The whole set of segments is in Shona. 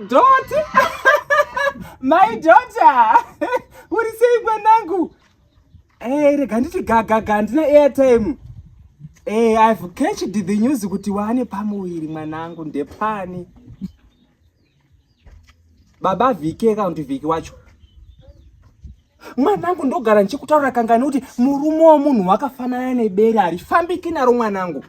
Doti my daughter uri sei mwanangu eh rega nditi gagaga handina airtime eh i've catched the news kuti waane pamuviri mwanangu ndepani baba vhiki kana kuti vhiki wacho mwanangu ndogara ndichikutaura kangani kuti murume wemunhu wakafanana nebere harifambiki naro mwanangu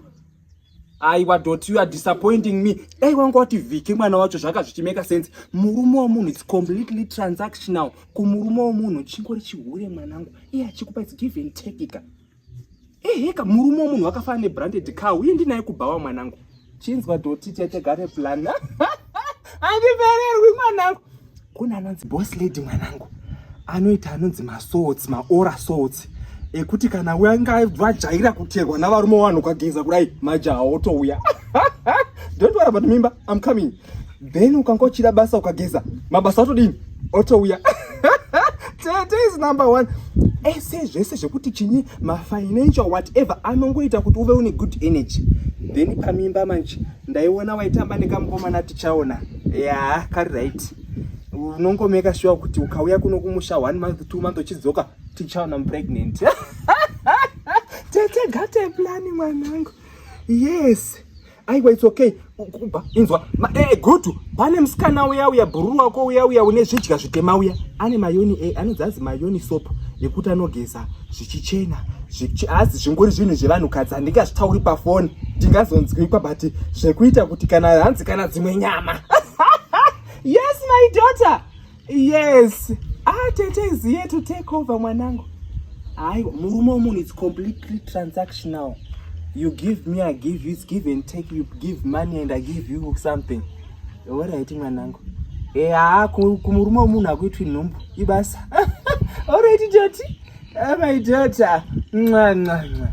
aiwa dot you are disappointing me dai wanga wati vhiki mwana wacho zvaka zvichimeka sense murume wemunhu its completely transactional kumurume wemunhu chingori chihure mwanangu iye achikupa its given tekika eheka murume wemunhu wakafana nebranded car uye ndinaye kubhawa mwanangu chinzwa doti tetegare plan andivererwi mwanangu kune anonzi boss lady mwanangu anoita anonzi masorts maora sorts ekuti kana wanga vajaira kuterwa navarume vanhu ukageza kudai majaha otouya don't worry about mimba i'm coming then ukanga uchida basa ukageza mabasa atodini otouya tete is number one ese eh, zvese zvekuti chinyi mafinancial whatever anongoita kuti uve une good energy then pamimba manje ndaiona waitamba nekamukomana tichaona ya yeah, kari right unongomeka shuwa kuti ukauya kuno kumusha one month two month uchidzoka tichaona mupregnant tete gate plani mwanangu yes aiwa it's okay kuba inzwa eh, eh, gutu pane musikana uya uya bhururu wako uya uya une zvidya zvitema uya ane mayoni e eh, anonzi anzi mayoni sopo yekuti anogeza zvichichena hazi zvingori zvinhu zvevanhukadzi handingazvitauri pafoni ndingazonzwikwa but zvekuita kuti kana hanzi kana dzimwe nyama yes my daughter Yes. Ah, Tete is here to take over mwanangu. Hayi, murume womunhu it's completely transactional. You give me, I give you, it's give and take. You give money and I give you something. Alright mwanangu. Eh, ah, kumurume womunhu hakuitwi nhumbu. Ibasa. Alright, Tete. Ah, my daughter. Mwa, mwa, mwa.